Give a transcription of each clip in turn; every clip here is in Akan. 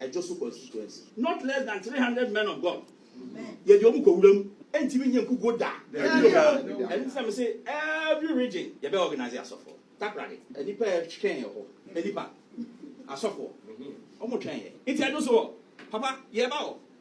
ɛdwo so constituency. Not less than three hundred men of God yɛde wɔn kɔ wura mu ɛntumi nyɛ nkukuo da ɛno ntina me se every region yɛbɛ organize asɔfoɔ takoradi nnipa ɛtwɛn yɛ hɔ nnipa asɔfoɔ wɔn twɛn yɛ nti ɛdwo so wɔ papa yɛba wɔ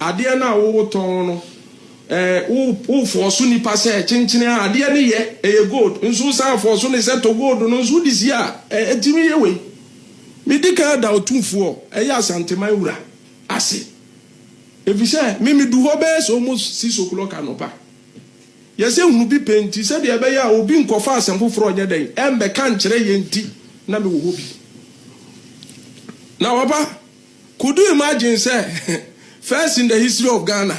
Adeɛ no a wotɔn no, wo wo fɔɔso nipa sɛ kyenkyene a adeɛ no yɛ, ɛyɛ gold, nso wosan fɔɔso no sɛ tɔ gold no nso wode sie a, ɛ ɛtumi yɛ wei. Medi kan ada Otumfoɔ, ɛyɛ Asanteman wura, ase, efisɛ me medu hɔ bɛyɛ sɛ almost six o'clock anɔpa. Yɛsɛ hunu bi pɛ nti, sɛdeɛ ɛbɛyɛ a obi nkɔfa asɛm foforɔ ɔnyɛ dɛn, ɛmmɛka nkyerɛ yɛn nti na mewɔ hɔ bi. Na papa. Could u imagine sɛ first in the history of Ghana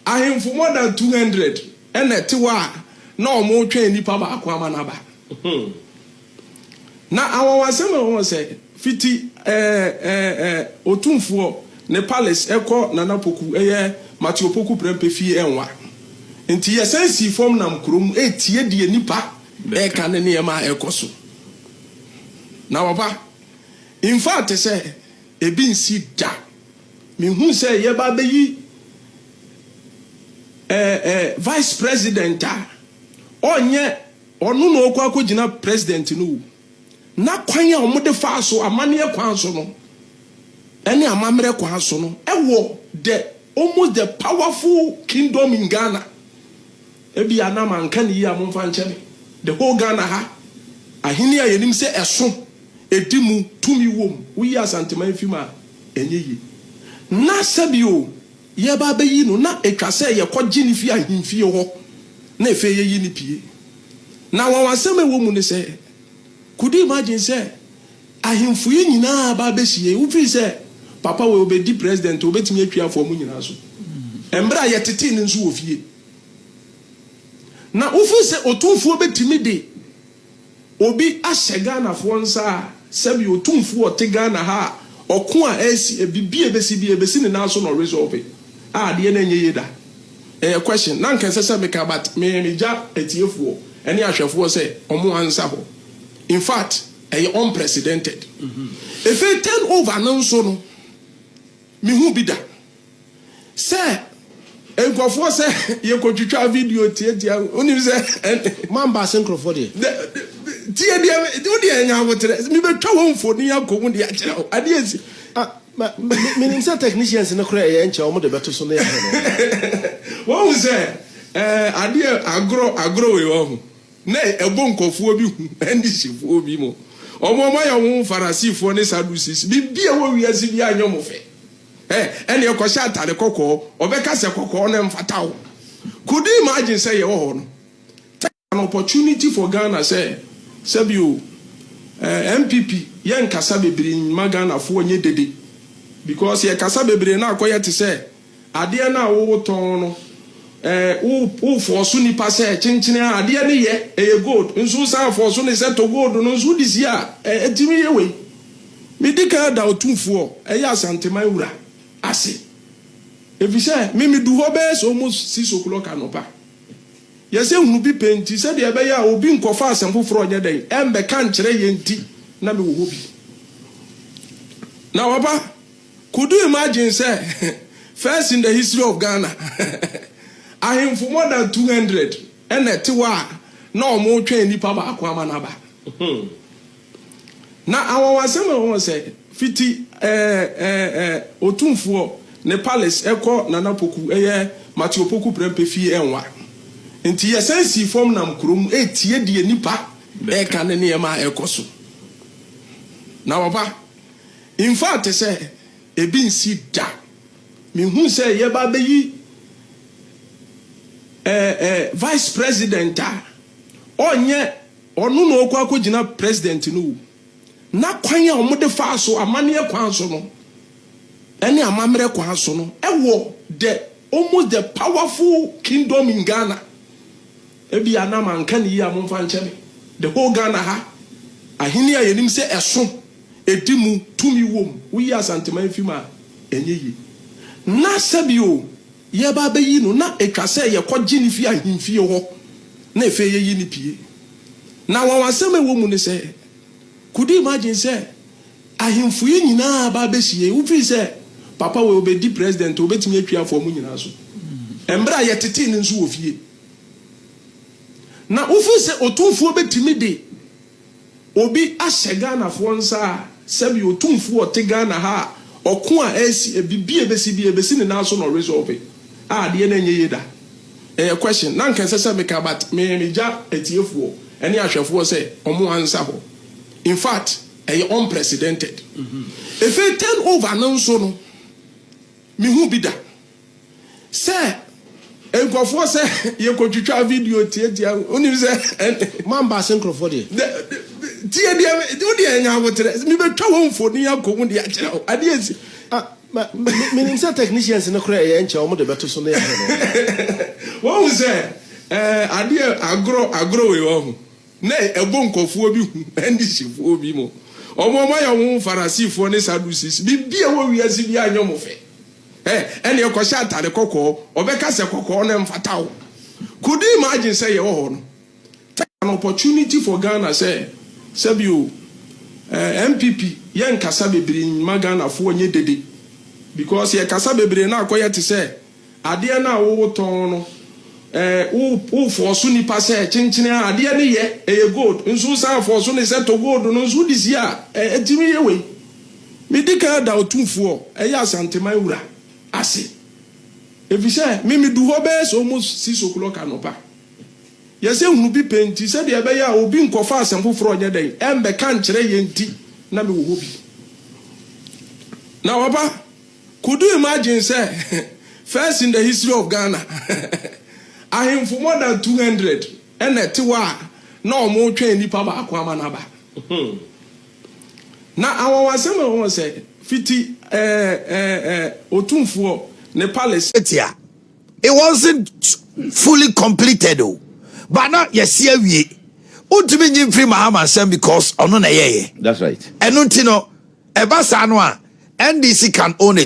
ahemfo more than two hundred na ɛte hɔ a na wɔretwɛn nipa baako ama no aba. Na anwanwasɛm a ɛwɔ hɔ sɛ fiti ɛɛ ɛɛ Otumfoɔ ne palace ɛkɔ Nana Poku ɛyɛ Mate Opoku Prɛmpɛ fie ɛnwa. Nti yɛsan sii fam nam kurom retie deɛ nipa ɛreka ne nneɛma a ɛrekɔ so. Na wɔba. Infact sɛ ebi nsi da. Me hu sɛ yɛ ba bɛ yi eh eh vice president a ɔnyɛ ɔno na ɔkɔ akɔ gyina president no o. Na kwan a ɔmo de faa so amaneɛ kwan so no ɛne amamerɛ kwan so no ɛwɔ the almost the powerful kingdom in Ghana Ebia na manka no yie a momfa nkyɛ me. The whole Ghana ha ahene a yɛnim sɛ ɛso, ɛdi mu, tumi wom, woyi Asanteman fi mu a, ɛnyɛ yie. Na sɛbi o, yɛreba abɛyi no, na ɛtwa sɛ yɛkɔgye no fi ahemfie hɔ na ɛfei yɛyi no pue. Na anwanwasɛm a ɛwɔ mu ne sɛ, could you imagine sɛ ahemfo yi nyinaa aba abɛhyia yi, wofii sɛ papa wei ɔbɛdi president a, ɔbɛtumi atwi afoa mo nyinaa so. Mmerɛ a yɛtetee no nso wɔ fie. Na wofi sɛ otumfoɔ bɛtumi de obi ahyɛ Ghanafoɔ nsa a, sɛbi otumfoɔ a ɔte Ghana ha a, ɔko a ɛresi, biribi a ɛbɛsi biara, ɛbɛsi ne nan so na ɔresolve. A, adeɛ no ɛnyɛ yie da. Ɛyɛ question. Na anka ɛsɛ sɛ meka but me, megya atiefoɔ ne ahwɛfoɔ sɛ wɔn ansa hɔ. In fact, ɛyɛ unprecedented. Ɛfei turn over no nso no, mehu bi da. Sɛ nkurɔfoɔ sɛ yɛkɔtwitwa video tiatia wo, wonim sɛ ɛne. Moamba ase nkurɔfoɔ deɛ. Dɛ, tie deɛ, wo deɛ nya aboterɛ. Mebɛtwa wo mfoni akɔhu de akyerɛ wo. Adeɛ asi. Ah, ma, me, menim sɛ technicians no koraa ɛyɛ nkyɛ wɔn de bɛto so na yɛahwɛ no. Wahu sɛ, ɛɛ, adeɛ agorɔ, agorɔ wei wahu. Na ɛbɔ nkurɔfoɔ bi hu, Andihyɛfoɔ bi mo. Wɔn a wɔayɛ wɔn ho Farasifoɔ ne Sadducees, biribi a ɛwɔ wiase biara nyɛ wɔn fɛ. Ɛ, ɛnneɛ kɔhyɛ atade kɔkɔɔ. Ɔbɛka sɛ, Kɔkɔɔ no mfata wo. Could you imagine sɛ yɛwɔ hɔ no, take an opportunity for Ghana sɛ, sɛbi o, eh, NPP, yɛnkasa bebree mma Ghanafoɔ nyɛ dede. Because yɛkasa bebree no akɔyɛ te sɛ adeɛ no a wotɔn no, eh, wo, wo force nipa sɛ, kyenkyene a, adeɛ no yɛ, ɛyɛ gold, nso wosan force no sɛ tɔ gold no nso wode sie a, eh, ɛtumi yɛ wei. Medi kan da Otumfoɔ a ɛyɛ Asanteman Wura ase, efisɛ me medu hɔ bɛyɛ sɛ almost six o'clock anɔpa. Yɛsɛ hunu bi pɛ nti, sɛdeɛ ɛbɛyɛ a obi nkɔfa asɛm foforɔ nyɛ dɛn ɛmmɛka nkyerɛ yɛn nti na mewɔ hɔ bi. Na Papa, could u imagine sɛ first in the history of Ghana ahemfo more than two hundred na ɛte hɔ a na wɔretwɛn nipa baako ama no aba. Na anwanwasɛm a ɔwɔ sɛ, fiti ɛɛ ɛɛ ɛɛ Otumfoɔ ne palace ɛkɔ Nana Poku ɛyɛ Matthew Opoku Prempeh fie ɛnwa. Nti yɛsan sii fam nam kurom ɛretie deɛ nnipa ɛreka ne nneɛma a ɛrekɔ so. Na papa, in fact sɛ ɛbi nsi da, mehu sɛ yɛba abɛyi ɛɛ ɛɛ Vice President a ɔnyɛ. Ɔno na ɔkɔ akɔgyina president no o. Na kwan a wɔde faa so, amanneɛ kwan so no, ne amammerɛ kwan so no, wɔ the almost the powerful kingdom in Ghana. Ebia na manka no yie a momfa nkyɛ me. The whole Ghana ha, ahene a yɛnim sɛ ɛso, ɛdi mu, tumi wom, woyi Asanteman fi mu a, ɛnyɛ yie. Na sɛbi o, Yɛreba abɛyi no, na ɛtwa sɛ yɛkɔgye no fi ahemfie hɔ na ɛfei yɛyi no pue. Na anwanwasɛm a ɛwɔ mu ne sɛ, could you imagine sɛ ahemfo yi nyinaa aba abɛhyia yi, wofii sɛ papa wei ɔbɛdi president a, ɔbɛtumi atwi afoa mo nyinaa so. Mmerɛ a yɛtetee no nso wɔ fie, na wofii sɛ otumfoɔ bɛtumi de Obi ahyɛ Ghanafoɔ nsa a, sɛbi Otumfuo a ɔte Ghana ha a, ɔko a ɛresi, ɛbibi a ɛbɛsi biara, ɛbɛsi ne nan so na ɔresolve, a adeɛ no ɛnyɛ yie da. Ɛyɛ question, na anka ɛsɛ sɛ meka but me megya atiefoɔ ɛne ahwɛfoɔ sɛ wɔn ansa hɔ. In fact, ɛyɛ unprecedented. Ɛfei turn over no nso no, mehu bi da. Sɛ nkurɔfoɔ sɛ yɛkɔtwitwa video tiatia wo wonim sɛ ɛne. Moamba ase nkurɔfoɔ deɛ. Dɛ dɛ tie deɛ wo deɛ nya ahoterɛ mebɛtwa wo mfoni akɔ mu de akyerɛ wo adeɛ asi. Ah ma me menim sɛ technicians no koraa ɛyɛ nkyɛ wɔn de bɛto so na yɛahwɛ no. Wahu sɛ ɛɛ adeɛ agorɔ agorɔ wei wahu na ɛbɔ nkurɔfoɔ bi hu ɛne hyifoɔ bi mo wɔn wɔn ayɛ wɔn ho Farasifoɔ ne Sadducees biribi a ɛwɔ wiase biara nyɛ wɔn fɛ. Ɛ, ɛnneɛ kɔhyɛ atade kɔkɔɔ. Ɔbɛka sɛ kɔkɔɔ no mfata wo. Could you imagine sɛ yɛwɔ hɔ no, tɛk, an opportunity for Ghana sɛ, sɛbi o, eh, NPP, yɛnkasa bebree mma Ghanafoɔ nyɛ dede. Because yɛkasa bebree no akɔyɛ te sɛ adeɛ no a wotɔn no, eh, wo, wo fɔɔso nnipa sɛ, kyenkyene a, adeɛ no yɛ, ɛyɛ gold, nso wosan fɔɔso no sɛ tɔ gold no nso wode sie a, eh, ɛtumi yɛ wei. Medi kan da Otumfoɔ, ɛyɛ Asanteman wura, ase, efisɛ me midu hɔ bɛyɛ sɛ almost six o'clock anɔpa. Yɛsɛ nhunu bi pɛ nti, sɛdeɛ ɛbɛyɛ a obi nkɔfa asɛm foforɔ nyɛ dɛn, ɛmmɛka nkyerɛ yɛn nti na mewɔ hɔ bi. Na papa, could u imagine sɛ first in the history of Ghana, ahemfo more than two hundred na ɛte hɔ a na wɔretwɛn nipa baako ama no aba. Na anwanwasɛm a ɔwɔ sɛ, fiti ɛɛ ɛɛ ɛɛ Otumfoɔ ne palace. Etia, it wasn't fully completed o, but na yɛasi awie. Wontumi nyi mfiri Mahama nsam because ɔno na ɛyɛeɛ. That's right. Ɛno nti no, ɛba saa no a, NDC can own it.